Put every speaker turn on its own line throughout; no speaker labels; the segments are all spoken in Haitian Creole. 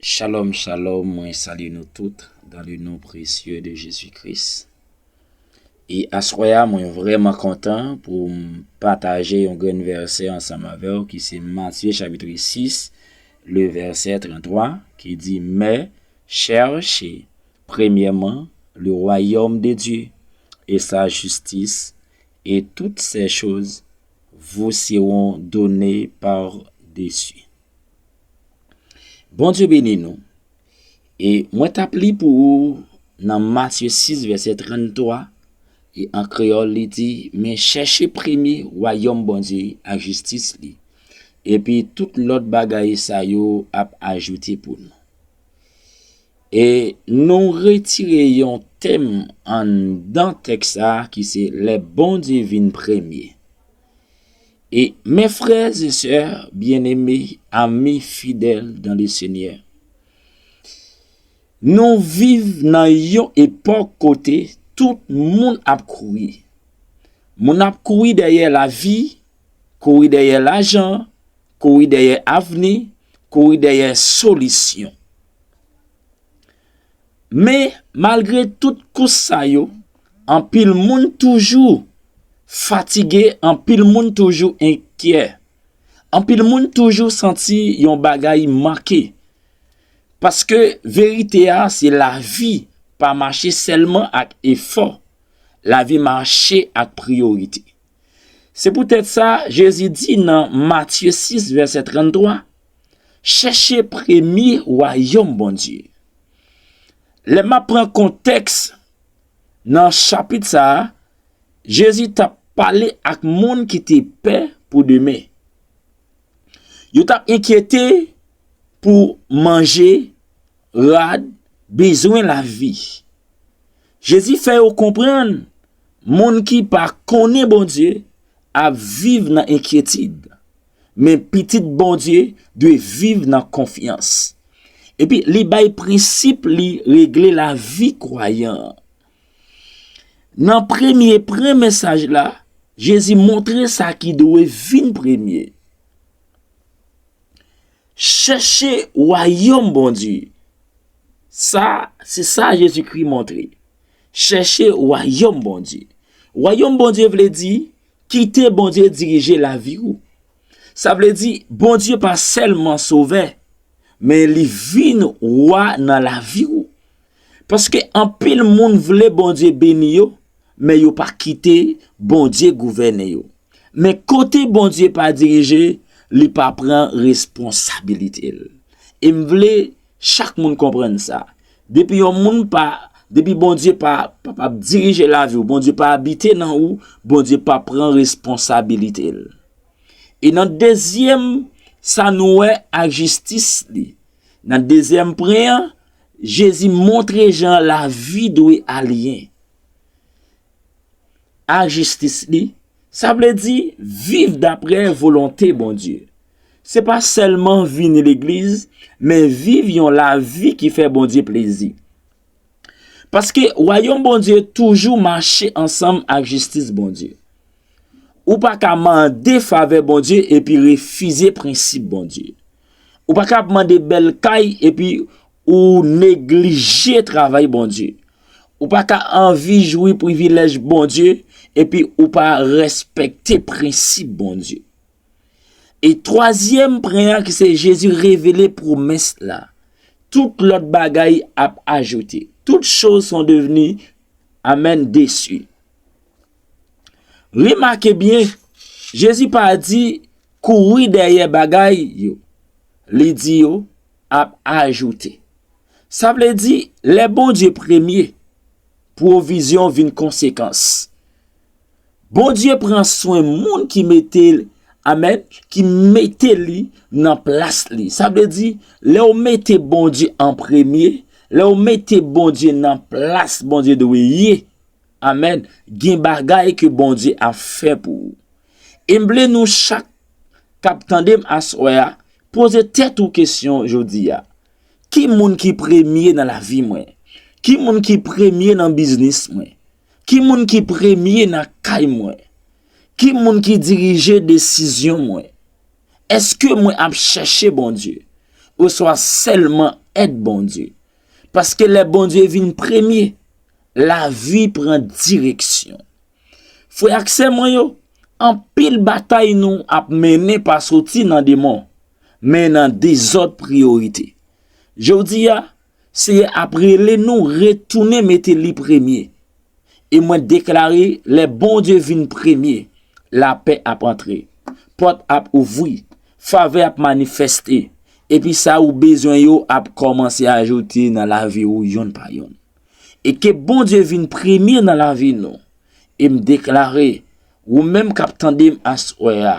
Shalom shalom mwen salye nou tout dan le non presye de Jezi Kris e aswè a mwen vreman kontan pou m pataje yon grenn vèsè ansanm avèw ki se Matye chapitre 6 le vèsè 33 ki di mè chèrche premyèman le wayòm de Dye e sa jistis e tout sè choz vous seront donnés par dessus. Bondye beni nou. E mwen tap li pou ou nan Matye 6 vèsè 33, e an kreyòl li di, men chèche premye wayòm Bondye ak jistis li, epi tout lòt bagay sa yo ap ajoute pou nou. E nou retire yon tèm anndan tèks sa a ki se lè Bondye vin premye. E mè frè e sè byeneme, ami fidèl dan le Senyè, nou viv nan yon epòk kote tout moun ap kouri. Moun ap kouri dèyè lavi, kouri dèyè lajan, kouri dèyè avni, kouri dèyè solisyon. Men, malgre tout kous sa yo, anpil moun toujou fatige, anpil moun toujou enkyè. Anpil moun toujou santi yon bagay manke. Paske verite a, se lavi pa mache sèlman ak efò. Lavi mache ak priyorite. Se poutèt sa, Jezi di nan Matye 6, vèsè 33, Chèche premye wayòm Bondye. Lè m ap pran kontèks nan chapit sa a, Jezi t ap pale ak moun ki te pè pou demen. Yo t ap enkyete pou manje, rad, bezwen lavi. Jezi fè yo konprann moun ki pa konnen Bondye ap viv nan enkyetid. Men pitit Bondye dwe viv nan konfyans. Epi li bay prensip li regle lavi kwayan an. Nan premye pren mesaj la, Jezi montre sa ki dwe vin premye. Chèche wayòm Bondye. Sa, se sa Jezikri montre. Chèche wayòm Bondye. Wayòm Bondye vle di, Kite Bondye dirije lavi ou. Sa vle di, Bondye pa sèlman Sovè, men li vin Wa nan lavi ou. Paske anpil moun vle Bondye beni yo, men yo pa kite Bondye gouvène yo. Men kote Bondye pa dirije, li pa pran responsabilite l. E m vle Chak moun konprann sa. Depi yon moun pa, depi Bondye pa, pa pa dirije lavi ou, Bondye pa abite nan ou, Bondye pa pran responsabilite l. E nan dezyèm sa nou wè a jistis li. Nan dezyèm pwen an, Jezi montre jan lavi dwe aliyen. A jistis li, sa vle di viv dapre volonte Bondye. Se pa sèlman vini legliz, men viv yon lavi ki fè Bondye plezi. Paske wayòm Bondye toujou mache ansanm ak jistis Bondye. Ou pa ka mande favè Bondye epi refize prensip Bondye. Ou pa ka ap mande bèl kay epi ou neglije travay Bondye. Ou pa ka anvi jwi privilèj Bondye epi ou pa respekte prensip Bondye. E twazyèm pren an ki se Jezi revele pwomès la, tout lòt bagay ap ajoute. Tout choz son devni, amèn, desi. Remake byen, Jezi pa di kouri dèyè bagay yo, li di yo ap ajoute. Sa vle di, lè Bondye premye, Pwovizyon vin konsekans. Bondye pran swen moun ki mete l, amèn, ki mete li nan plas li. Sa vle di, lè w mete Bondye an premye, lè w mete Bondye nan plas Bondye dwe ye, amèn, gen bagay ke Bondye ap fè pou ou. E m vle nou chak k ap tande m aswè a, poze tèt ou kesyon jodi a. Ki moun ki premye nan lavi mwen? Ki moun ki premye nan biznis mwen? Ki moun ki premye nan kay mwen? Ki moun ki dirije desizyon mwen? Èske mwen ap chèche Bondye? Oswa sèlman èd Bondye? Paske lè Bondye vin premye, lavi pran direksyon. Frè ak sè mwen yo, anpil batay nou ap mennen pa soti nan demon, men nan dezòd priyorite. Jodi a, Seyè ap rele nou retounen mete Li premye. E mwen deklare lè Bondye vin premye, lapè ap antre, pòt ap ouvri, favè ap manifeste, epi sa ou bezwen yo ap kòmanse ajoute nan lavi ou yonn pa yonn. E ke Bondye vin premye nan lavi nou. E m deklare, ou menm k ap tande m aswè a,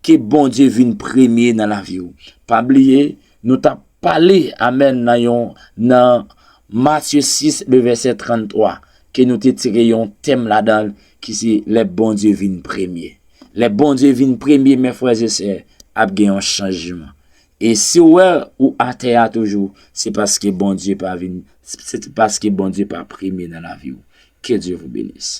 ke Bondye vin premye nan lavi w. Pa bliye, nou t ap pale amèn nan yon nan Matye 6, le vèsè 33, ke nou te tire yon tèm ladan l ki se lè Bondye vin premye. Lè Bondye vin premye, men frè e sè, ap gen yon chanjman. E si w wè ou atè a toujou, se paske Bondye pa vin, se paske Bondye pa premye nan lavi w. Ke Dye vou benis.